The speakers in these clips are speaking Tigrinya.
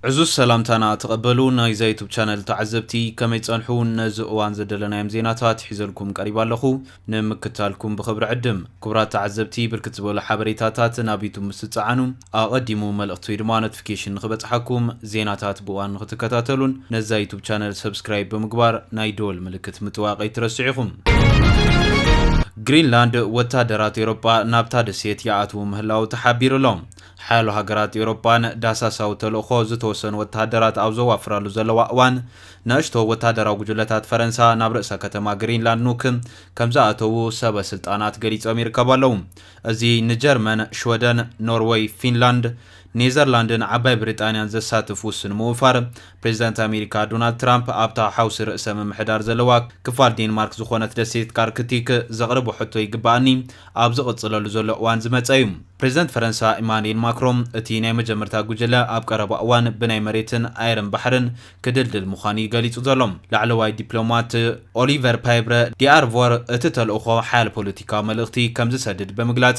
ዕዙዝ ሰላምታና ተቐበሉ ናይዛ ዩቱብ ቻነል ተዓዘብቲ ከመይ ጸንሑ ነዚ እዋን ዘደለናዮም ዜናታት ሒዘልኩም ቀሪብ ኣለኹ ንምክታልኩም ብኽብሪ ዕድም ክቡራት ተዓዘብቲ ብርክት ዝበሉ ሓበሬታታት ናብ ዩቱብ ምስ ትጸዓኑ ኣቐዲሙ መልእኽቲ ወይ ድማ ኖቲፊኬሽን ንኽበጽሓኩም ዜናታት ብእዋን ንኽትከታተሉን ነዛ ዩቱብ ቻነል ሰብስክራይብ ብምግባር ናይ ደወል ምልክት ምጥዋቕ ኣይትረስዑ ኢኹም ግሪንላንድ ወታደራት ኤሮጳ ናብታ ደሴት ይኣትዉ ምህላዉ ተሓቢሩ ኣሎ ሓያሎ ሃገራት ኤውሮጳ ን ዳህሳሳዊ ተልእኾ ዝተወሰኑ ወተሃደራት ኣብ ዘዋፍራሉ ዘለዋ እዋን፣ ንኣሽቶ ወተሃደራዊ ጉጅለታት ፈረንሳ ናብ ርእሰ ከተማ ግሪንላንድ ኑክ ከም ዝኣተዉ ሰበ ስልጣናት ገሊጾም ይርከቡ ኣለዉ። እዚ ንጀርመን፣ ሽወደን፣ ኖርወይ፣ ፊንላንድ፣ ኔዘርላንድን ዓባይ ብሪጣንያን ዘሳትፍ ውሱን ምውፋር፣ ፕሬዚዳንት ኣሜሪካ ዶናልድ ትራምፕ ኣብታ ሓውሲ ርእሰ ምምሕዳር ዘለዋ ክፋል ዴንማርክ ዝኾነት ደሴት ካርክቲክ ዘቕርቦ ሕቶ ይግበኣኒ ኣብ ዝቕፅለሉ ዘሎ እዋን ዝመፀ እዩ። ፕሬዚዳንት ፈረንሳ ኢማኑኤል ማክሮን እቲ ናይ መጀመርታ ጉጅለ ኣብ ቀረባ እዋን ብናይ መሬትን ኣየርን ባሕርን ክድልድል ምዃኑ እዩ ገሊፁ ዘሎ። ላዕለዋይ ዲፕሎማት ኦሊቨር ፓይብረ ዲኣርቮር እቲ ተልእኾ ሓያል ፖለቲካዊ መልእኽቲ ከምዝሰድድ ብምግላፅ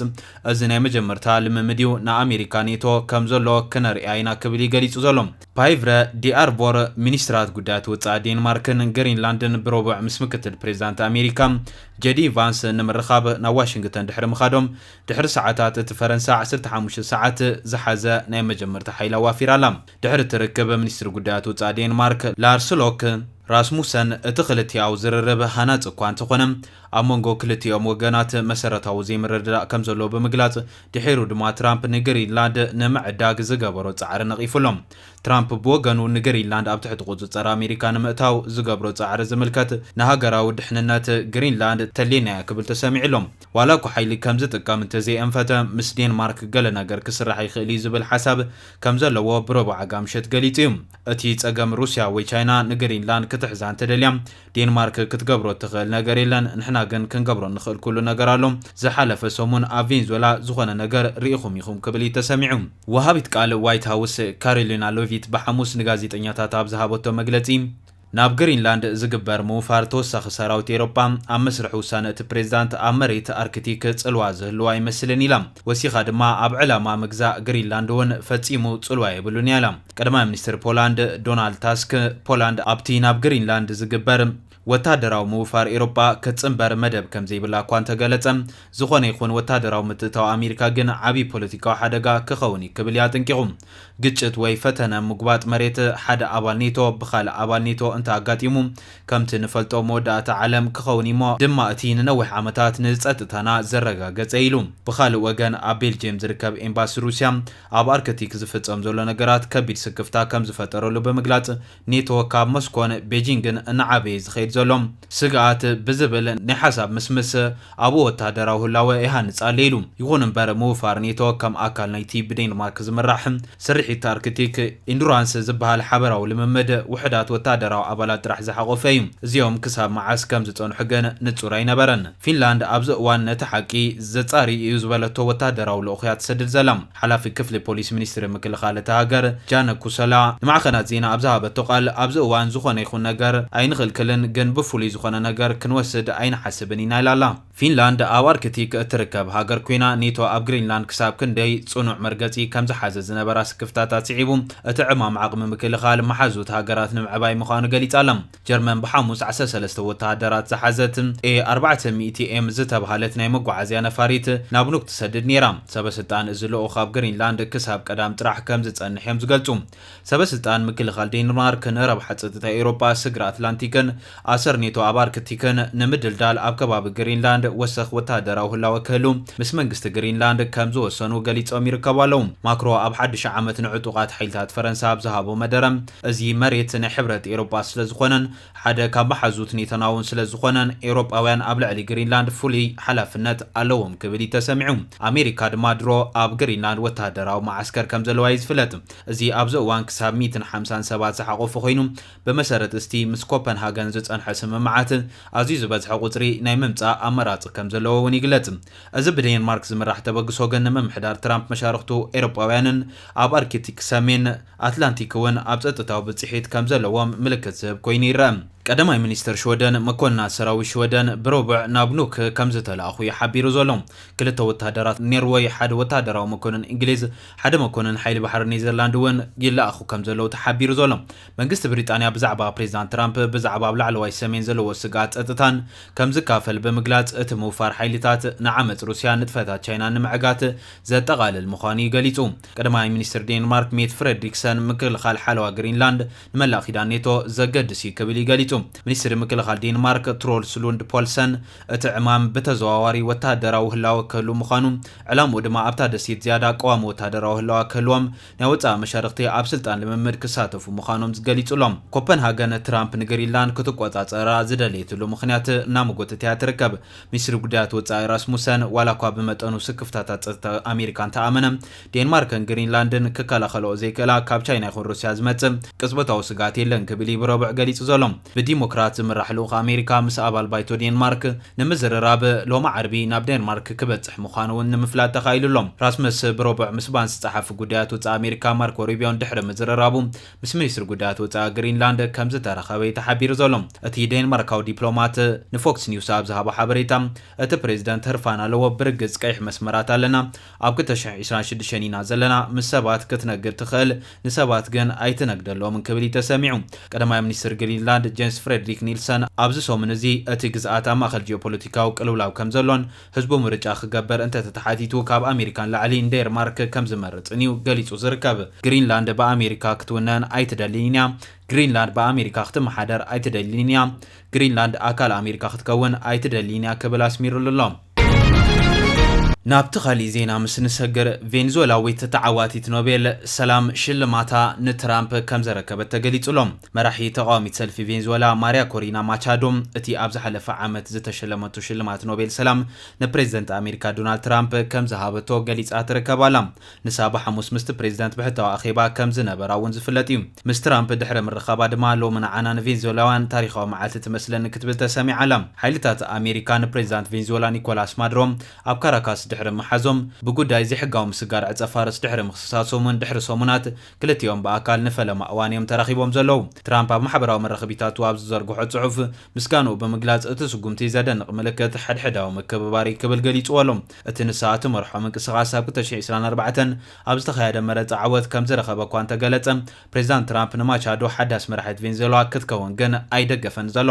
እዚ ናይ መጀመርታ ልምምድ እዩ፣ ንኣሜሪካ ኔቶ ከምዘሎ ክነርእያ ኢና ክብል እዩ ገሊፁ ዘሎ። ፓይቭረ ዲኣርቮር ሚኒስትራት ጉዳያት ወጻኢ ዴንማርክን ግሪንላንድን ብረቡዕ ምስ ምክትል ፕሬዚዳንት ኣሜሪካ ጀዲ ቫንስ ንምርኻብ ናብ ዋሽንግተን ድሕሪ ምኻዶም ድሕሪ ሰዓታት እቲ ፈረንሳ ዓሰርተ ሓሙሽተ ሰዓት ዝሓዘ ናይ መጀመርታ ሓይሊ ኣዋፊራ ኣላ። ድሕሪ እቲ ርክብ ሚኒስትር ጉዳያት ወጻኢ ዴንማርክ ላርስ ሎክ ራስሙሰን እቲ ክልቲኣዊ ዝርርብ ሃናጺ እኳ እንተኾነ ኣብ መንጎ ክልቲኦም ወገናት መሰረታዊ ዘይምርድዳእ ከምዘሎ ብምግላጽ ድሒሩ ድማ ትራምፕ ንግሪንላንድ ንምዕዳግ ዝገበሮ ጻዕሪ ነቒፉ ኣሎ። ትራምፕ ብወገኑ ንግሪንላንድ ኣብ ትሕቲ ቁጽጽር ኣሜሪካ ንምእታው ዝገብሮ ጻዕሪ ዝምልከት ንሃገራዊ ድሕንነት ግሪንላንድ ተልየና'ያ ክብል ተሰሚዑ ኣሎ። ዋላ'ኳ ሓይሊ ከም ዝጥቀም እንተዘይኣንፈተ፣ ምስ ዴንማርክ ገለ ነገር ክስራሕ ይኽእል'ዩ ዝብል ሓሳብ ከም ዘለዎ ብረቡዕ ኣጋምሸት ገሊጹ'ዩ። እቲ ጸገም ሩስያ ወይ ቻይና ንግሪንላንድ ክትሕዛ እንተደልያ ዴንማርክ ክትገብሮ እትኽእል ነገር የለን፣ ንሕና ግን ክንገብሮ እንኽእል ኩሉ ነገር ኣሎ። ዝሓለፈ ሰሙን ኣብ ቬንዙዌላ ዝኾነ ነገር ርኢኹም ኢኹም ክብል እዩ ተሰሚዑ። ወሃቢት ቃል ዋይት ሃውስ ካሮሊና ሎቪት ብሓሙስ ንጋዜጠኛታት ኣብ ዝሃበቶ መግለጺ፣ ናብ ግሪንላንድ ዝግበር ምውፋር ተወሳኺ ሰራዊት ኤሮጳ ኣብ መስርሕ ውሳነ እቲ ፕሬዚዳንት ኣብ መሬት ኣርክቲክ ጽልዋ ዝህልዎ ኣይመስልን ኢላ። ወሲኻ ድማ ኣብ ዕላማ ምግዛእ ግሪንላንድ እውን ፈጺሙ ጽልዋ የብሉን እያ ኢላ። ቀዳማይ ሚኒስትር ፖላንድ ዶናልድ ታስክ፣ ፖላንድ ኣብቲ ናብ ግሪንላንድ ዝግበር ወተሃደራዊ ምውፋር ኤውሮጳ ክትጽንበር መደብ ከምዘይብላ እኳ እንተገለጸ፣ ዝኾነ ይኹን ወተሃደራዊ ምትእትታው ኣሜሪካ ግን ዓቢ ፖለቲካዊ ሓደጋ ክኸውን እዩ ክብል እዩ ኣጠንቂቑ። ግጭት ወይ ፈተነ ምጉባጥ መሬት ሓደ ኣባል ኔቶ ብኻልእ ኣባል ኔቶ እንተ ኣጋጢሙ፣ ከምቲ ንፈልጦ መወዳእታ ዓለም ክኸውን እዩ'ሞ ድማ እቲ ንነዊሕ ዓመታት ንጸጥታና ዘረጋገጸ እዩ ኢሉ። ብኻልእ ወገን ኣብ ቤልጅየም ዝርከብ ኤምባሲ ሩስያ፣ ኣብ ኣርክቲክ ዝፍጸም ዘሎ ነገራት ከቢድ ስክፍታ ከም ዝፈጠረሉ ብምግላጽ፣ ኔቶ ካብ ሞስኮን ቤጂንግን እናዓበየ ዝኸይድ ዘሎ ስግኣት ብዝብል ናይ ሓሳብ ምስምስ ኣብኡ ወተሃደራዊ ህላወ ይሃንጽ ኣሎ ኢሉ። ይኹን እምበር ምውፋር ኔቶ ከም ኣካል ናይቲ ብዴንማርክ ዝምራሕ ስርሒት ኣርክቲክ ኢንዱራንስ ዝበሃል ሓበራዊ ልምምድ ውሑዳት ወተሃደራዊ ኣባላት ጥራሕ ዝሓቖፈ እዩ። እዚኦም ክሳብ መዓስ ከም ዝጸንሑ ግን ንጹር ኣይነበረን። ፊንላንድ ኣብዚ እዋን ነቲ ሓቂ ዘጻሪ እዩ ዝበለቶ ወተሃደራዊ ልኡኽ እያ ትሰድድ ዘላ። ሓላፊ ክፍሊ ፖሊስ ሚኒስትሪ ምክልኻል እታ ሃገር ጃነ ኩሰላ ንማዕኸናት ዜና ኣብ ዝሃበቶ ቃል ኣብዚ እዋን ዝኾነ ይኹን ነገር ኣይንኽልክልን ግን ብፍሉይ ዝኾነ ነገር ክንወስድ ኣይንሓስብን ኢና ኢላ ኣላ። ፊንላንድ ኣብ ኣርክቲክ እትርከብ ሃገር ኮይና ኔቶ ኣብ ግሪንላንድ ክሳብ ክንደይ ጽኑዕ መርገጺ ከም ዝሓዘ ዝነበራ ስክፍታታት ስዒቡ እቲ ዕማም ዓቕሚ ምክልኻል መሓዙት ሃገራት ንምዕባይ ምዃኑ ገሊጻ ኣላ። ጀርመን ብሓሙስ ዓሰርተ ሰለስተ ወተሃደራት ዝሓዘት ኤ ኣርባዕተ ሚእቲ ኤም ዝተብሃለት ናይ መጓዓዝያ ነፋሪት ናብ ኑክ ትሰድድ ነይራ። ሰበስልጣን እዚ ልኡኽ ኣብ ግሪንላንድ ክሳብ ቀዳም ጥራሕ ከም ዝጸንሕ እዮም ዝገልጹ። ሰበስልጣን ምክልኻል ዴንማርክን ረብሓ ጸጥታ ኤውሮጳ፣ ስግረ ኣትላንቲክን ኣሰር ኔቶ ኣብ ኣርክቲክን ንምድልዳል ኣብ ከባቢ ግሪንላንድ ወሰኽ ወተሃደራዊ ህላወ ክህሉ ምስ መንግስቲ ግሪንላንድ ከም ዝወሰኑ ገሊጾም ይርከቡ ኣለዉ። ማክሮ ኣብ ሓድሽ ዓመት ንዕጡቓት ሓይልታት ፈረንሳ ኣብ ዝሃቦ መደረ፣ እዚ መሬት ናይ ሕብረት ኤውሮጳ ስለ ዝኾነን ሓደ ካብ መሓዙት ኔቶና'ውን ስለ ዝኾነን ኤውሮጳውያን ኣብ ልዕሊ ግሪንላንድ ፍሉይ ሓላፍነት ኣለዎም ክብል እዩ ተሰሚዑ። ኣሜሪካ ድማ ድሮ ኣብ ግሪንላንድ ወተሃደራዊ መዓስከር ከም ዘለዋ እዩ ዝፍለጥ። እዚ ኣብዚ እዋን ክሳብ ሚእትን ሓምሳን ሰባት ዝሓቖፈ ኮይኑ ብመሰረት እስቲ ምስ ኮፐንሃገን ዝጸንሖ ስምምዓት ኣዝዩ ዝበዝሐ ቁጽሪ ናይ ምምጻእ ኣማራጺ ከም ዘለዎ'ውን ይግለጽ። እዚ ብዴንማርክ ዝምራሕ ተበግሶ ግን ንምምሕዳር ትራምፕ መሻርኽቱ ኤውሮጳውያንን ኣብ ኣርክቲክ ሰሜን ኣትላንቲክ'ውን ኣብ ጸጥታዊ ብጽሒት ከም ዘለዎም ምልክት ዝህብ ኮይኑ ይረኣ። ቀዳማይ ሚኒስተር ሽወደን፣ መኮንናት ሰራዊት ሽወደን ብረቡዕ ናብ ኑክ ከም ዝተላእኹ'ዩ ሓቢሩ ዘሎ። ክልተ ወተሃደራት ኔርወይ፣ ሓደ ወተሃደራዊ መኮንን እንግሊዝ፣ ሓደ መኮንን ሓይሊ ባሕሪ ኔዘርላንድ'ውን ይለኣኹ ከም ዘለዉ'ዩ ተሓቢሩ ዘሎ። መንግስቲ ብሪጣንያ ብዛዕባ ፕሬዚዳንት ትራምፕ ብዛዕባ ኣብ ላዕለዋይ ሰሜን ዘለዎ ስግኣት ጸጥታን ከም ዝካፈል ብምግላጽ፣ እቲ ምውፋር ሓይልታት ንዓመጽ ሩስያን ንጥፈታት ቻይናን ንምዕጋት ዘጠቓልል ምዃኑ'ዩ ገሊጹ። ቀዳማይ ሚኒስትር ዴንማርክ ሜት ፍረድሪክሰን ምክልኻል ሓለዋ ግሪንላንድ ንመላእ ኪዳን ኔቶ ዘገድስ እዩ ክብል እዩ ገሊጹ። ሚኒስትሪ ምክልኻል ዴንማርክ ትሮልስ ሉንድ ፖልሰን እቲ ዕማም ብተዘዋዋሪ ወተሃደራዊ ህላወ ክህሉ ምዃኑ ዕላምኡ ድማ ኣብታ ደሴት ዝያዳ ቀዋሚ ወተሃደራዊ ህላዋ ክህልዎም ናይ ወጻኢ መሻርኽቲ ኣብ ስልጣን ልምምድ ክሳተፉ ምዃኖም ዝገሊጹሎም ኮፐንሃገን ትራምፕ ንግሪንላንድ ክትቆጻጸራ ዝደለየትሉ ምኽንያት እናመጎተት እያ ትርከብ። ሚኒስትሪ ጉዳያት ወጻኢ ራስሙሰን፣ ዋላኳ ብመጠኑ ስክፍታታት ጸጥታ ኣሜሪካ እንተኣመነ፣ ዴንማርክን ግሪንላንድን ክከላኸልኦ ዘይክእላ ካብ ቻይና ይኹን ሩስያ ዝመጽእ ቅጽበታዊ ስግኣት የለን ክብል እዩ ብረቡዕ ገሊጹ ዘሎ። ብዲሞክራት ዝምራሕ ልኡኽ ኣሜሪካ ምስ ኣባል ባይቶ ዴንማርክ ንምዝርራብ ሎሚ ዓርቢ ናብ ዴንማርክ ክበጽሕ ምዃኑ'ውን ንምፍላጥ ተኻኢሉ ኣሎ። ራስመስ ብረቡዕ ምስ ባንስ ጸሓፊ ጉዳያት ወጻኢ ኣሜሪካ ማርኮ ሩቢዮን ድሕሪ ምዝርራቡ፣ ምስ ሚኒስትሪ ጉዳያት ወጻኢ ግሪንላንድ ከምዝተራኸበ'ዩ ተሓቢሩ ዘሎ። እቲ ዴንማርካዊ ዲፕሎማት ንፎክስ ኒውስ ኣብ ዝሃቦ ሓበሬታ፣ እቲ ፕሬዝደንት ህርፋን ኣለዎ፣ ብርግጽ ቀይሕ መስመራት ኣለና፣ ኣብ ክልተ ሽሕ ዒስራን ሽዱሽተን ኢና ዘለና፣ ምስ ሰባት ክትነግድ ትኽእል፣ ንሰባት ግን ኣይትነግደሎምን ክብል እዩ ተሰሚዑ። ቀዳማይ ሚኒስትር ግሪንላንድ ጀንስ ፍሬድሪክ ኒልሰን ኣብዚ ሰሙን እዚ እቲ ግዝኣት ኣብ ማእከል ጂኦፖለቲካዊ ቅልውላው ከምዘሎን፣ ህዝቡ ምርጫ ክገብር እንተተተሓቲቱ ካብ ኣሜሪካ ንላዕሊ ንዴርማርክ ከምዝመርጽን እዩ ገሊጹ ዝርከብ። ግሪንላንድ ብኣሜሪካ ክትውነን ኣይትደልይን እያ። ግሪንላንድ ብኣሜሪካ ክትመሓደር ኣይትደልይን እያ። ግሪንላንድ ኣካል ኣሜሪካ ክትከውን ኣይትደልይን እያ ክብል ኣስሚርሉ ኣሎ። ናብቲ ካሊእ ዜና ምስ ንሰግር፣ ቬንዙዌላዊት ተዓዋቲት ኖቤል ሰላም ሽልማታ ንትራምፕ ከምዘረከበት ተገሊጹ ኣሎ። መራሒ ተቓዋሚት ሰልፊ ቬንዝወላ ማርያ ኮሪና ማቻዶ፣ እቲ ኣብ ዝሓለፈ ዓመት ዝተሸለመቶ ሽልማት ኖቤል ሰላም ንፕሬዝደንት ኣሜሪካ ዶናልድ ትራምፕ ከምዝሃበቶ ገሊጻ ትርከብ ኣላ። ንሳ ብሓሙስ ምስቲ ፕሬዝደንት ብሕታዊ ኣኼባ ከምዝነበራ እውን ዝፍለጥ እዩ። ምስ ትራምፕ ድሕሪ ምርኻባ ድማ ሎሚ ንዓና ንቬንዝወላውያን ታሪኻዊ መዓልቲ ትመስለኒ ክትብል ተሰሚዓ ኣላ። ሓይልታት ኣሜሪካ ንፕሬዝዳንት ቬንዝወላ ኒኮላስ ማድሮ ኣብ ካራካስ ድሕሪ ምሓዞም፣ ብጉዳይ ዘይሕጋዊ ምስጋር ዕጸ-ፋርስ ድሕሪ ምኽስሳሶም እውን ድሕሪ ሰሙናት፣ ክልቲኦም ብኣካል ንፈለማ እዋን እዮም ተራኺቦም ዘለዉ። ትራምፕ ኣብ ማሕበራዊ መራኸቢታቱ ኣብ ዝዘርግሖ ጽሑፍ፣ ምስጋንኡ ብምግላጽ፣ እቲ ስጕምቲ ዘደንቕ ምልክት ሓድሕዳዊ ምክብባር እዩ ክብል ገሊጽዎ ኣሎ። እቲ ንሳ እትመርሖ ምንቅስቓስ ኣብ ክልተ ሽሕ ዕስራን ኣርባዕተን ኣብ ዝተኻየደ መረጻ ዓወት ከም ዝረኸበ እኳ እንተ ገለጸ፣ ፕሬዝዳንት ትራምፕ ንማቻዶ ሓዳስ መራሒት ቬንዙዌላ ክትከውን ግን ኣይደገፈን ዘሎ።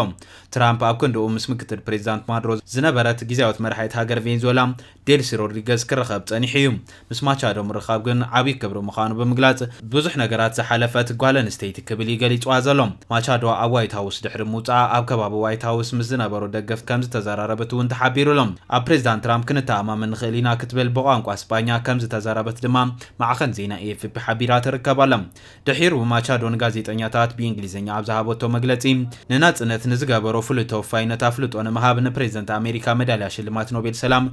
ትራምፕ ኣብ ክንድኡ ምስ ምክትል ፕሬዝዳንት ማዱሮ ዝነበረት ግዝያዊት መራሒት ሃገር ቬንዙዌላ ዴልሲ ሮድሪገዝ ክርኸብ ጸኒሑ እዩ። ምስ ማቻዶ ምርኻብ ግን ዓብዪ ክብሪ ምዃኑ ብምግላጽ፣ ብዙሕ ነገራት ዝሓለፈት ጓል ኣንስተይቲ ክብል እዩ ገሊጽዋ ዘሎ። ማቻዶ ኣብ ዋይት ሃውስ ድሕሪ ምውጽኣ ኣብ ከባቢ ዋይት ሃውስ ምስ ዝነበሩ ደገፍት ከም ዝተዘራረበት እውን ተሓቢሩ ኣሎ። ኣብ ፕሬዝዳንት ትራምፕ ክንተኣማመን ንኽእል ኢና ክትብል ብቋንቋ ስጳኛ ከም ዝተዘረበት ድማ ማዕኸን ዜና ኤኤፍፒ ሓቢራ ትርከብ ኣላ። ድሒሩ ማቻዶ ንጋዜጠኛታት ብኢንግሊዝኛ ኣብ ዝሃበቶ መግለጺ፣ ንናጽነት ንዝገበሮ ፍሉይ ተወፋይነት ኣፍልጦ ንምሃብ ንፕሬዝደንት ኣሜሪካ መዳልያ ሽልማት ኖቤል ሰላም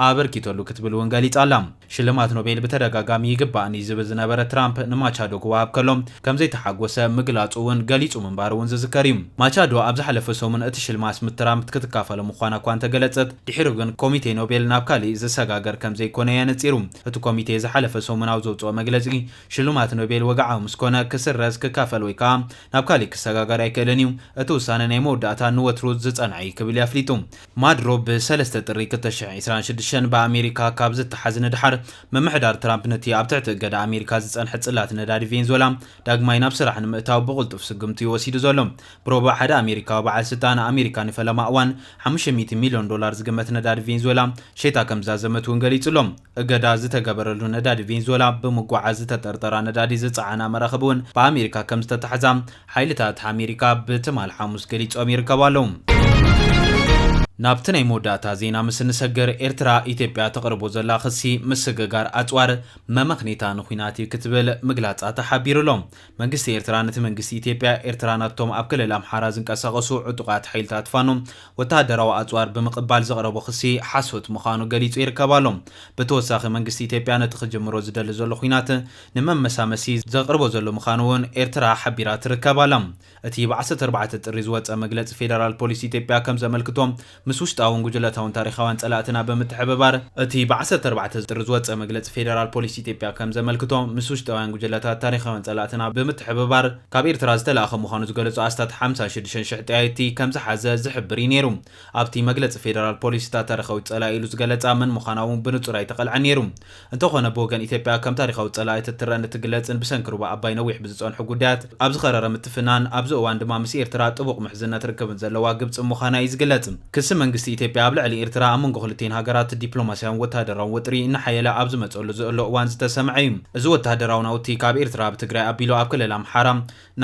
ኣበርኪተሉ ክትብል እውን ገሊጻ ኣላ። ሽልማት ኖቤል ብተደጋጋሚ ይግባእኒ ዝብል ዝነበረ ትራምፕ ንማቻዶ ክወሃብ ከሎ ከምዘይተሓጎሰ ምግላጹ እውን ገሊጹ ምንባሩ እውን ዝዝከር እዩ። ማቻዶ ኣብ ዝሓለፈ ሰሙን እቲ ሽልማት ምስ ትራምፕ ክትካፈሎ ምዃና እኳ እንተገለጸት፣ ድሒሩ ግን ኮሚቴ ኖቤል ናብ ካሊእ ዝሰጋገር ከምዘይኮነ እዩ ኣነጺሩ። እቲ ኮሚቴ ዝሓለፈ ሰሙን ኣብ ዘውጽኦ መግለጺ፣ ሽልማት ኖቤል ወግዓዊ ምስ ኮነ፣ ክስረዝ፣ ክካፈል ወይ ከኣ ናብ ካሊእ ክሰጋገር ኣይክእልን እዩ። እቲ ውሳነ ናይ መወዳእታን ንወትሩ ዝጸንዐ እዩ ክብል እዩ ኣፍሊጡ። ማድሮ ብ ሰለስተ ጥሪ ክልተ ሽሕን ዒስራን ሽዱሽተን ብኣሜሪካ ካብ ዝተሓዝ ንደሓር፣ ምምሕዳር ትራምፕ ነቲ ኣብ ትሕቲ እገዳ ኣሜሪካ ዝጸንሐ ጽላት ነዳዲ ቬንዝወላ ዳግማይ ናብ ስራሕ ንምእታው ብቕልጡፍ ስጉምቲ እዩ ወሲዱ ዘሎ። ብሮቡዕ ሓደ ኣሜሪካዊ በዓል ስልጣን፣ ኣሜሪካ ንፈለማ እዋን ሓሙሽተ ሚእቲ ሚልዮን ዶላር ዝግመት ነዳዲ ቬንዝወላ ሸይጣ ከምዝዛዘመት እውን ገሊጹ ኣሎ። እገዳ ዝተገበረሉ ነዳዲ ቬንዙዌላ ብምጉዕዓዝ ዝተጠርጠራ ነዳዲ ዝጸዓና መራኽብ'ውን ብኣሜሪካ ከም ዝተታሕዛ ሓይልታት ኣሜሪካ ብትማል ሓሙስ ገሊጾም ይርከቡ ኣለዉ። ናብቲ ናይ መወዳእታ ዜና ምስ እንሰግር፣ ኤርትራ ኢትዮጵያ ተቕርቦ ዘላ ክሲ ምስግጋር ኣጽዋር መመኽኔታ ንኲናት እዩ ክትብል ምግላጻ ተሓቢሩ ኣሎ። መንግስቲ ኤርትራ ነቲ መንግስቲ ኢትዮጵያ ኤርትራ ናብቶም ኣብ ክልል ኣምሓራ ዝንቀሳቐሱ ዕጡቓት ሓይልታት ፋኖ ወተሃደራዊ ኣጽዋር ብምቕባል ዘቕረቦ ክሲ ሓሶት ምዃኑ ገሊጹ ይርከብ ኣሎ። ብተወሳኺ መንግስቲ ኢትዮጵያ ነቲ ክጅምሮ ዝደሊ ዘሎ ኲናት ንመመሳመሲ ዘቕርቦ ዘሎ ምዃኑ'ውን ኤርትራ ሓቢራ ትርከብ ኣላ። እቲ ብ ዓሰርተ ኣርባዕተ ጥሪ ዝወጸ መግለጺ ፌደራል ፖሊስ ኢትዮጵያ ከም ዘመልክቶ፣ ምስ ውሽጣውን ጉጅለታውን ታሪኻውያን ፀላእትና ብምትሕብባር እቲ ብ ዓሰርተ ኣርባዕተ ጥሪ ዝወፀ መግለፂ ፌደራል ፖሊስ ኢትዮጵያ ከም ዘመልክቶ ምስ ውሽጣውያን ጉጅለታት ታሪኻውያን ፀላእትና ብምትሕብባር ካብ ኤርትራ ዝተላእኸ ምዃኑ ዝገለፁ ኣስታት ሓምሳ ሽዱሽተ ሽሕ ጠያየቲ ከም ዝሓዘ ዝሕብር እዩ ነይሩ። ኣብቲ መግለፂ ፌደራል ፖሊስ እታ ታሪኻዊት ፀላኢ ኢሉ ዝገለፃ መን ምዃና እውን ብንፁር ኣይተቐልዐን ነይሩ። እንተኾነ ብወገን ኢትዮጵያ ከም ታሪኻዊት ጸላኢት እትረእን እትግለጽን ብሰንኪ ሩባ ኣባይ ነዊሕ ብዝጸንሑ ጉዳያት ኣብ ዝኸረረ ምትፍናን ኣብዚ እዋን ድማ ምስ ኤርትራ ጥቡቕ ምሕዝነት ርክብን ዘለዋ ግብጺ ምዃና እዩ ዝግለጽ። ክሲ መንግስቲ ኢትዮጵያ ኣብ ልዕሊ ኤርትራ ኣብ መንጎ ክልቲኤን ሃገራት ዲፕሎማስያውን ወተሃደራውን ወጥሪ እናሓየለ ኣብ ዝመጸሉ ዝእሎ እዋን ዝተሰምዐ እዩ። እዚ ወተሃደራዊ ናውቲ ካብ ኤርትራ ብትግራይ ኣቢሉ ኣብ ክልል ኣምሓራ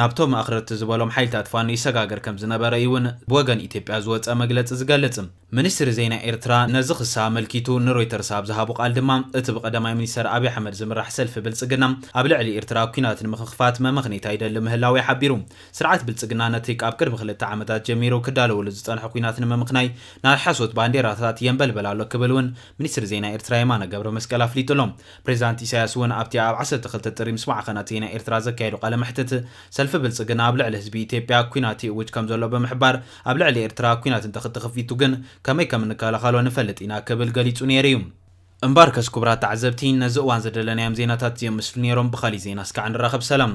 ናብቶም ኣኽረርቲ ዝበሎም ሓይልታት ፋኖ ይሰጋገር ከም ዝነበረ እዩ'ውን ብወገን ኢትዮጵያ ዝወጸ መግለጺ ዝገልጽ። ሚኒስትሪ ዜና ኤርትራ ነዚ ክሲ ኣመልኪቱ ንሮይተርስ ኣብ ዝሃቦ ቃል ድማ፣ እቲ ብቀዳማይ ሚኒስተር ኣብይ ኣሕመድ ዝምራሕ ሰልፊ ብልጽግና ኣብ ልዕሊ ኤርትራ ኲናት ንምኽኽፋት መመኽኔታ ይደሊ ምህላዉ እዩ ሓቢሩ። ስርዓት ብልጽግና ነቲ ካብ ቅድሚ ክልተ ዓመታት ጀሚሩ ክዳለወሉ ዝጸንሖ ኲናት ንምምኽናይ ናይ ሓሶት ባንዴራታት የንበልበል ኣሎ ክብል እውን ሚኒስትሪ ዜና ኤርትራ የማነ ገብረመስቀል ኣፍሊጡ ኣሎ። ፕሬዚዳንት ኢሳያስ እውን ኣብቲ ኣብ ዓሰርተ ክልተ ጥሪ ምስ ማዕኸናት ዜና ኤርትራ ዘካየዶ ቃለ መሕትት ሰልፊ ብልጽግና ኣብ ልዕሊ ህዝቢ ኢትዮጵያ ኲናት ይእውጅ ከምዘሎ ብምሕባር ኣብ ልዕሊ ኤርትራ ኲናት እንተክተኽፊቱ ግን ከመይ ከም እንከላኸሎ ንፈልጥ ኢና ክብል ገሊጹ ነይሩ እዩ። እምበኣርከስ ኩቡራት ተዓዘብቲ ነዚ እዋን ዝደለናዮም ዜናታት እዚኦም ምስሉ ነይሮም ብኻሊእ ዜና እስካዕ ንራኸብ ሰላም።